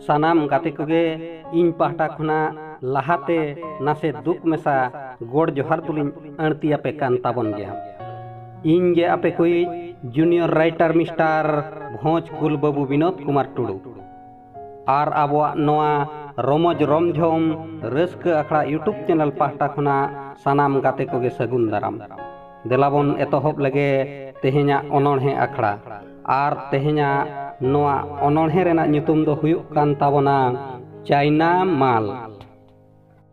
ᱥᱟᱱᱟᱢ ᱜᱟᱛᱮ ᱠᱚᱜᱮ ᱤᱧ ᱯᱟᱦᱴᱟ ᱠᱷᱚᱱᱟᱜ ᱞᱟᱦᱟᱛᱮ ᱱᱟᱥᱮ ᱫᱩᱠ ᱢᱮᱥᱟ ᱜᱚᱲ ᱡᱚᱦᱟᱨ ᱫᱚᱞᱤᱧ ᱟᱹᱲᱛᱤ ᱟᱯᱮ ᱠᱟᱱ ᱛᱟᱵᱚᱱ ᱜᱮᱭᱟ ᱤᱧ ᱜᱮ ᱟᱯᱮ ᱠᱚᱭᱤᱡ ᱡᱩᱱᱤᱭᱚᱨ ᱨᱟᱭᱴᱟᱨ ᱢᱤᱥᱴᱟᱨ ᱵᱷᱚᱸᱡᱽ ᱠᱩᱞ ᱵᱟᱹᱵᱩ ᱵᱤᱱᱳᱫ ᱠᱩᱢᱟᱨ ᱴᱩᱰᱩ ᱟᱨ ᱟᱵᱚᱣᱟᱜ ᱱᱚᱣᱟ ᱨᱚᱢᱚᱡᱽ ᱨᱚᱢᱡᱷᱚᱢ ᱨᱟᱹᱥᱠᱟᱹ ᱟᱠᱷᱲᱟ ᱤᱭᱩᱴᱩᱵᱽ ᱪᱮᱱᱮᱞ ᱯᱟᱦᱴᱟ ᱠᱷᱚᱱᱟᱜ ᱥᱟᱱᱟᱢ ᱜᱟᱛᱮ ᱠᱚᱜᱮ ᱥᱟᱹᱜᱩᱱ ᱫᱟᱨᱟᱢ ᱫᱮᱞᱟᱵᱚᱱ ᱮᱛᱚᱦᱚᱵ ᱞᱮᱜᱮ ᱛᱮᱦᱮᱧᱟᱜ ᱚᱱᱚᱬᱦᱮ ᱟᱠᱷᱲᱟ ᱟᱨ ᱛᱮᱦᱮᱧᱟᱜ ᱱᱚᱣᱟ ᱚᱱᱚᱬᱦᱮ ᱨᱮᱱᱟᱜ ᱧᱩᱛᱩᱢ ᱫᱚ ᱦᱩᱭᱩᱜ ᱠᱟᱱ ᱛᱟᱵᱚᱱᱟ ᱪᱟᱭᱱᱟ ᱢᱟᱞ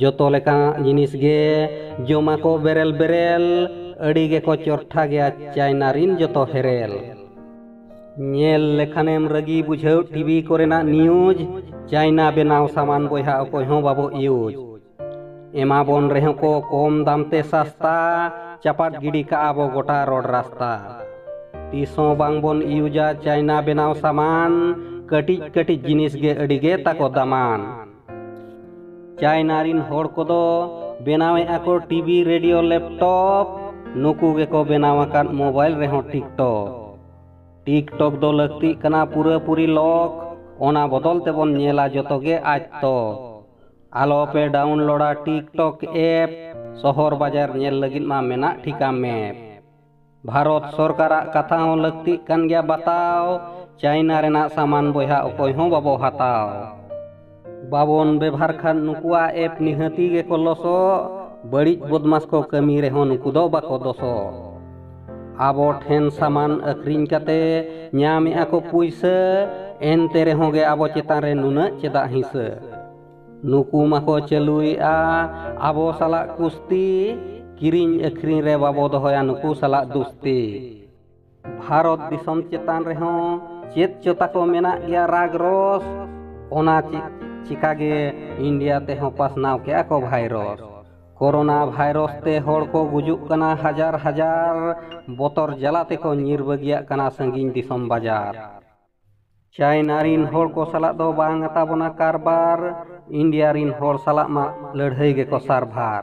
ᱡᱚᱛᱚ ᱞᱮᱠᱟᱱᱟᱜ ᱡᱤᱱᱤᱥ ᱜᱮ ᱡᱚᱢᱟ ᱠᱚ ᱵᱮᱨᱮᱞ ᱵᱮᱨᱮᱞ ᱟᱹᱰᱤ ᱜᱮᱠᱚ ᱪᱚᱨᱴᱷᱟ ᱜᱮᱭᱟ ᱪᱟᱭᱱᱟ ᱨᱤᱱ ᱡᱚᱛᱚ ᱦᱮᱨᱮᱞ ᱧᱮᱞ ᱞᱮᱠᱷᱟᱱᱮᱢ ᱨᱟᱹᱜᱤ ᱵᱩᱡᱷᱟᱹᱣ ᱴᱤᱵᱷᱤ ᱠᱚᱨᱮᱱᱟᱜ ᱱᱤᱭᱩᱡᱽ ᱪᱟᱭᱱᱟ ᱵᱮᱱᱟᱣ ᱥᱟᱢᱟᱱ ᱵᱚᱭᱦᱟ ᱚᱠᱚᱭ ᱦᱚᱸ ᱵᱟᱵᱚ ᱤᱭᱩᱡᱽ ᱮᱢᱟ ᱵᱚᱱ ᱨᱮᱦᱚᱸ ᱠᱚ ᱠᱚᱢ ᱫᱟᱢ ᱛᱮ ᱥᱟᱥᱛᱟ ᱪᱟᱯᱟᱫ ᱜᱤᱰᱤ ᱠᱟᱜᱼᱟ ᱵᱚ ᱜᱚᱴᱟ ᱨᱚᱰ ᱨᱟᱥᱛᱟ ᱛᱤᱥ ᱦᱚᱸ ᱵᱟᱝ ᱵᱚᱱ ᱤᱭᱩᱡᱟ ᱪᱟᱭᱱᱟ ᱵᱮᱱᱟᱣ ᱥᱟᱢᱟᱱ ᱠᱟᱹᱴᱤᱡ ᱠᱟᱹᱴᱤᱡ ᱡᱤᱱᱤᱥ ᱜᱮ ᱟᱹᱰᱤ ᱜᱮ ᱛᱟᱠᱚ ᱫᱟᱢᱟᱱ ᱪᱟᱭᱱᱟ ᱨᱤᱱ ᱦᱚᱲ ᱠᱚᱫᱚ ᱵᱮᱱᱟᱣᱮᱫ ᱟᱠᱚ ᱴᱤᱵᱷᱤ ᱨᱮᱰᱤᱭᱳ ᱞᱮᱯᱴᱚᱯ ᱱᱩᱠᱩ ᱜᱮᱠᱚ ᱵᱮᱱᱟᱣ ᱟᱠᱟᱫ ᱢᱳᱵᱟᱭᱤᱞ ᱨᱮᱦᱚᱸ ᱴᱤᱠᱴᱚᱠ ᱴᱤᱠᱴᱚᱠ ᱫᱚ ᱞᱟᱹᱠᱛᱤᱜ ᱠᱟᱱᱟ ᱯᱩᱨᱟᱹᱯᱩᱨᱤ ᱞᱚᱠ ᱚᱱᱟ ᱵᱚᱫᱚᱞ ᱛᱮᱵᱚᱱ ᱧᱮᱞᱟ ᱡᱚᱛᱚ ᱜᱮ ᱟᱡ ᱛᱚ ᱟᱞᱚ ᱯᱮ ᱰᱟᱣᱩᱱᱞᱳᱰᱟ ᱴᱤᱠᱴᱚᱠ ᱮᱯ ᱥᱚᱦᱚᱨ ᱵᱟᱡᱟᱨ ᱧᱮᱞ ᱞᱟᱹᱜᱤᱫ ᱢᱟ ᱢᱮᱱᱟᱜ ᱴᱷᱤᱠᱟ ᱢᱮᱯ ᱵᱷᱟᱨᱚᱛ ᱥᱚᱨᱠᱟᱨᱟᱜ ᱠᱟᱛᱷᱟ ᱦᱚᱸ ᱞᱟᱹᱠᱛᱤᱜ ᱠᱟᱱ ᱜᱮᱭᱟ ᱵᱟᱛᱟᱣ ᱪᱟᱭᱱᱟ ᱨᱮᱱᱟᱜ ᱥᱟᱢᱟᱱ ᱵᱚᱭᱦᱟ ᱚᱠᱚᱭ ᱦᱚᱸ ᱵᱟᱵᱚ ᱦᱟᱛᱟᱣ ᱵᱟᱵᱚᱱ ᱵᱮᱵᱷᱟᱨ ᱠᱷᱟᱱ ᱱᱩᱠᱩᱣᱟᱜ ᱮᱯ ᱱᱤᱦᱟᱹᱛᱤ ᱜᱮᱠᱚ ᱞᱚᱥᱚᱜ ᱵᱟᱹᱲᱤᱡ ᱵᱚᱫᱢᱟᱥ ᱠᱚ ᱠᱟᱹᱢᱤ ᱨᱮᱦᱚᱸ ᱱᱩᱠᱩ ᱫᱚ ᱵᱟᱠᱚ ᱫᱚᱥᱚᱜ ᱟᱵᱚ ᱴᱷᱮᱱ ᱥᱟᱢᱟᱱ ᱟᱹᱠᱷᱨᱤᱧ ᱠᱟᱛᱮ ᱧᱟᱢᱮᱜᱼᱟ ᱠᱚ ᱯᱩᱭᱥᱟᱹ ᱮᱱᱛᱮ ᱨᱮᱦᱚᱸ ᱜᱮ ᱟᱵᱚ ᱪᱮᱛᱟᱱ ᱨᱮ ᱱᱩᱱᱟᱹᱜ ᱪᱮᱫᱟᱜ ᱦᱤᱸᱥᱟᱹ ᱱᱩᱠᱩ ᱢᱟᱠᱚ ᱪᱟᱹᱞᱩᱭᱮᱫᱼᱟ ᱟᱵᱚ ᱥᱟᱞᱟᱜ ᱠᱩᱥᱛᱤ ᱠᱤᱨᱤᱧ ᱟᱹᱠᱷᱨᱤᱧ ᱨᱮ ᱵᱟᱵᱚ ᱫᱚᱦᱚᱭᱟ ᱱᱩᱠᱩ ᱥᱟᱞᱟᱜ ᱫᱩᱥᱛᱤ ᱵᱷᱟᱨᱚᱛ ᱫᱤᱥᱚᱢ ᱪᱮᱛᱟᱱ ᱨᱮᱦᱚᱸ ᱪᱮᱫ ᱪᱚ ᱛᱟᱠᱚ ᱢᱮᱱᱟᱜ ᱜᱮᱭᱟ ᱨᱟᱜᱽ ᱨᱚᱥ ᱚᱱᱟ ᱪᱤᱠᱟᱜᱮ ᱤᱱᱰᱤᱭᱟ ᱛᱮᱦᱚᱸ ᱯᱟᱥᱱᱟᱣ ᱠᱮᱜᱼᱟ ᱠᱚ ᱵᱷᱟᱭᱨᱚᱥ ᱠᱳᱨᱳᱱᱟ ᱵᱷᱟᱭᱨᱚᱥ ᱛᱮ ᱦᱚᱲ ᱠᱚ ᱜᱩᱡᱩᱜ ᱠᱟᱱᱟ ᱦᱟᱡᱟᱨ ᱦᱟᱡᱟᱨ ᱵᱚᱛᱚᱨ ᱡᱟᱞᱟ ᱛᱮᱠᱚ ᱧᱤᱨ ᱵᱟᱹᱜᱤᱭᱟᱜ ᱠᱟᱱᱟ ᱥᱟᱺᱜᱤᱧ ᱫᱤᱥᱚᱢ ᱵᱟᱡᱟᱨ ᱪᱟᱭᱱᱟ ᱨᱤᱱ ᱦᱚᱲ ᱠᱚ ᱥᱟᱞᱟᱜ ᱫᱚ ᱵᱟᱝ ᱟᱛᱟᱵᱚᱱᱟ ᱠᱟᱨᱵᱟᱨ ᱤᱱᱰᱤᱭᱟ ᱨᱤᱱ ᱦᱚᱲ ᱥᱟᱞᱟᱜ ᱢᱟ ᱞᱟᱹᱲᱦᱟᱹᱭ ᱜᱮᱠᱚ ᱥᱟᱨᱵᱷᱟᱨ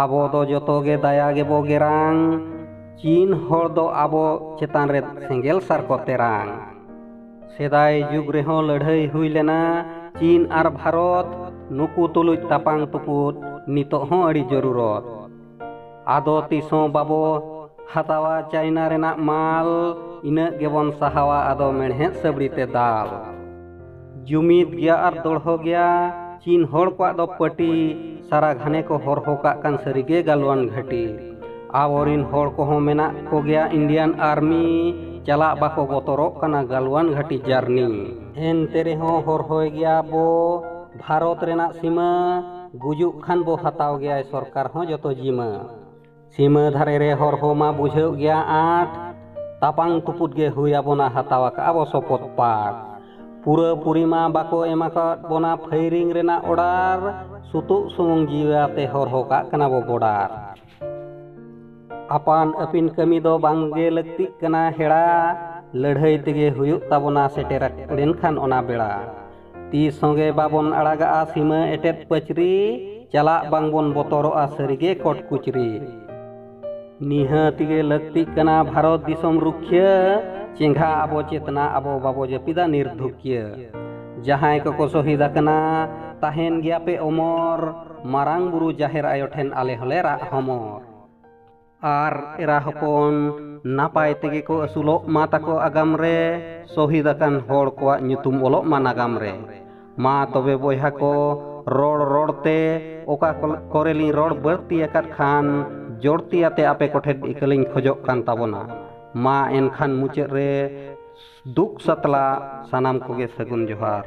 ᱟᱵᱚ ᱫᱚ ᱡᱚᱛᱚ ᱜᱮ ᱫᱟᱭᱟ ᱜᱮᱵᱚ ᱜᱮᱨᱟᱝ ᱪᱤᱱ ᱦᱚᱲ ᱫᱚ ᱟᱵᱚ ᱪᱮᱛᱟᱱ ᱨᱮ ᱥᱮᱸᱜᱮᱞ ᱥᱟᱨ ᱠᱚ ᱛᱮᱨᱟᱝ ᱥᱮᱫᱟᱭ ᱡᱩᱜᱽ ᱨᱮᱦᱚᱸ ᱞᱟᱹᱲᱦᱟᱹᱭ ᱦᱩᱭ ᱞᱮᱱᱟ ᱪᱤᱱ ᱟᱨ ᱵᱷᱟᱨᱚᱛ ᱱᱩᱠᱩ ᱛᱩᱞᱩᱡ ᱛᱟᱯᱟᱝ ᱛᱩᱯᱩᱫ ᱱᱤᱛᱚᱜ ᱦᱚᱸ ᱟᱹᱰᱤ ᱡᱚᱨᱩᱨᱚᱛ ᱟᱫᱚ ᱛᱤᱥᱦᱚᱸ ᱵᱟᱵᱚ ᱦᱟᱛᱟᱣᱟ ᱪᱟᱭᱱᱟ ᱨᱮᱱᱟᱜ ᱢᱟᱞ ᱤᱱᱟᱹᱜ ᱜᱮᱵᱚᱱ ᱥᱟᱦᱟᱣᱟ ᱟᱫᱚ ᱢᱮᱬᱦᱮᱫ ᱥᱟᱹᱵᱲᱤ ᱛᱮ ᱫᱟᱞ ᱡᱩᱢᱤᱫ ᱜᱮᱭᱟ ᱟᱨ ᱫᱚᱲᱦᱚ ᱜᱮᱭᱟ ᱪᱤᱱ ᱦᱚᱲ ᱠᱚᱣᱟᱜ ᱫᱚ ᱯᱟᱹᱴᱤ ᱥᱟᱨᱟ ᱜᱷᱟᱱᱮ ᱠᱚ ᱦᱚᱨᱦᱚ ᱠᱟᱜ ᱠᱟᱱ ᱥᱟᱹᱨᱤᱜᱮ ᱜᱟᱞᱣᱟᱱ ᱜᱷᱟᱹᱴᱤ ᱟᱵᱚᱨᱤᱱ ᱦᱚᱲ ᱠᱚᱦᱚᱸ ᱢᱮᱱᱟᱜ ᱠᱚᱜᱮᱭᱟ ᱤᱱᱰᱤᱭᱟᱱ ᱟᱨᱢᱤ ᱪᱟᱞᱟᱜ ᱵᱟᱠᱚ ᱵᱚᱛᱚᱨᱚᱜ ᱠᱟᱱᱟ ᱜᱟᱞᱣᱟᱱ ᱜᱷᱟᱹᱴᱤ ᱡᱟᱨᱱᱤ ᱮᱱᱛᱮ ᱨᱮᱦᱚᱸ ᱦᱚᱨᱦᱚᱭ ᱜᱮᱭᱟ ᱵᱚ ᱵᱷᱟᱨᱚᱛ ᱨᱮᱱᱟᱜ ᱥᱤᱢᱟᱹ ᱜᱩᱡᱩᱜ ᱠᱷᱟᱱ ᱵᱚ ᱦᱟᱛᱟᱣ ᱜᱮᱭᱟᱭ ᱥᱚᱨᱠᱟᱨ ᱦᱚᱸ ᱡᱚᱛᱚ ᱡᱤᱢᱟᱹ ᱥᱤᱢᱟᱹ ᱫᱷᱟᱨᱮ ᱨᱮ ᱦᱚᱨ ᱦᱚᱸ ᱢᱟ ᱵᱩᱡᱷᱟᱹᱣ ᱜᱮᱭᱟ ᱟᱸᱴ ᱛᱟᱯᱟᱝ ᱛᱩᱯᱩᱫ ᱜᱮ ᱦᱩᱭ ᱟᱵᱚᱱᱟ ᱦᱟᱛᱟᱣ ᱟᱠᱟᱜᱼᱟ ᱵᱚ ᱥᱚᱯᱚᱫ ᱯᱟᱴ ᱯᱩᱨᱟᱹ ᱯᱩᱨᱤᱢᱟ ᱵᱟᱠᱚ ᱮᱢ ᱟᱠᱟᱫ ᱵᱚᱱᱟ ᱯᱷᱟᱭᱨᱤᱝ ᱨᱮᱱᱟᱜ ᱚᱰᱟᱨ ᱥᱩᱛᱩᱜ ᱥᱩᱢᱩᱝ ᱡᱤᱣᱤ ᱟᱛᱮ ᱦᱚᱨᱦᱚ ᱠᱟᱜ ᱠᱟᱱᱟ ᱵᱚ ᱵᱚᱰᱟᱨ ᱟᱯᱟᱱ ᱟᱹᱯᱤᱱ ᱠᱟᱹᱢᱤ ᱫᱚ ᱵᱟᱝᱜᱮ ᱞᱟᱹᱠᱛᱤᱜ ᱠᱟᱱᱟ ᱦᱮᱲᱟ ᱞᱟᱹᱲᱦᱟᱹᱭ ᱛᱮᱜᱮ ᱦᱩᱭᱩᱜ ᱛᱟᱵᱚᱱᱟ ᱥᱮᱴᱮᱨ ᱞᱮᱱᱠᱷᱟᱱ ᱚᱱᱟ ᱵᱮᱲᱟ ᱛᱤᱥ ᱦᱚᱸᱜᱮ ᱵᱟᱵᱚᱱ ᱟᱲᱟᱜᱟᱜᱼᱟ ᱥᱤᱢᱟᱹ ᱮᱴᱮᱫ ᱯᱟᱹᱪᱨᱤ ᱪᱟᱞᱟᱜ ᱵᱟᱝᱵᱚᱱ ᱵᱚᱛᱚᱨᱚᱜᱼᱟ ᱥᱟᱹᱨᱤᱜᱮ ᱠᱚᱴ ᱠᱩᱪᱨᱤ ᱱᱤᱦᱟᱹᱛ ᱜᱮ ᱞᱟᱹᱠᱛᱤᱜ ᱠᱟᱱᱟ ᱵᱷᱟᱨᱚᱛ ᱫᱤᱥᱚᱢ ᱨᱩᱠᱷᱤᱭᱟᱹ ᱪᱮᱸᱜᱷᱟ ᱟᱵᱚ ᱪᱮᱛᱱᱟ ᱟᱵᱚ ᱵᱟᱵᱚ ᱡᱟᱹᱯᱤᱫᱟ ᱱᱤᱨᱫᱷᱩᱠᱤᱭᱟᱹ ᱡᱟᱦᱟᱸᱭ ᱠᱚᱠᱚ ᱥᱚᱦᱤᱫ ᱟᱠᱟᱱᱟ ᱛᱟᱦᱮᱱ ᱜᱮᱭᱟᱯᱮ ᱚᱢᱚᱨ ᱢᱟᱨᱟᱝ ᱵᱩᱨᱩ ᱡᱟᱦᱮᱨ ᱟᱭᱳ ᱴᱷᱮᱱ ᱟᱞᱮ ᱦᱚᱸᱞᱮ ᱨᱟᱜ ᱦᱚᱢᱚᱨ ᱟᱨ ᱮᱨᱟ ᱦᱚᱯᱚᱱ ᱱᱟᱯᱟᱭ ᱛᱮᱜᱮ ᱠᱚ ᱟᱹᱥᱩᱞᱚᱜ ᱢᱟ ᱛᱟᱠᱚ ᱟᱜᱟᱢ ᱨᱮ ᱥᱚᱦᱤᱫ ᱟᱠᱟᱱ ᱦᱚᱲ ᱠᱚᱣᱟᱜ ᱧᱩᱛᱩᱢ ᱚᱞᱚᱜ ᱢᱟ ᱱᱟᱜᱟᱢ ᱨᱮ ᱢᱟ ᱛᱚᱵᱮ ᱵᱚᱭᱦᱟ ᱠᱚ ᱨᱚᱲ ᱨᱚᱲ ᱛᱮ ᱚᱠᱟ ᱠᱚᱨᱮ ᱞᱤᱧ ᱨᱚᱲ ᱵᱟᱹᱲᱛᱤ ᱟᱠᱟᱫ ᱠᱷᱟᱱ ᱡᱚᱲᱛᱤ ᱟᱛᱮ ᱟᱯᱮ ᱠᱚᱴᱷᱮᱱ ᱤᱠᱟᱹ ᱞᱤᱧ ᱠᱷᱚᱡᱚᱜ ᱠᱟᱱ ᱛᱟᱵᱚᱱᱟ ᱢᱟ ᱮᱱᱠᱷᱟᱱ ᱢᱩᱪᱟᱹᱫ ᱨᱮ ᱫᱩᱠ ᱥᱟᱛᱞᱟ ᱥᱟᱱᱟᱢ ᱠᱚᱜᱮ ᱥᱟᱹᱜᱩᱱ ᱡᱚᱦᱟᱨ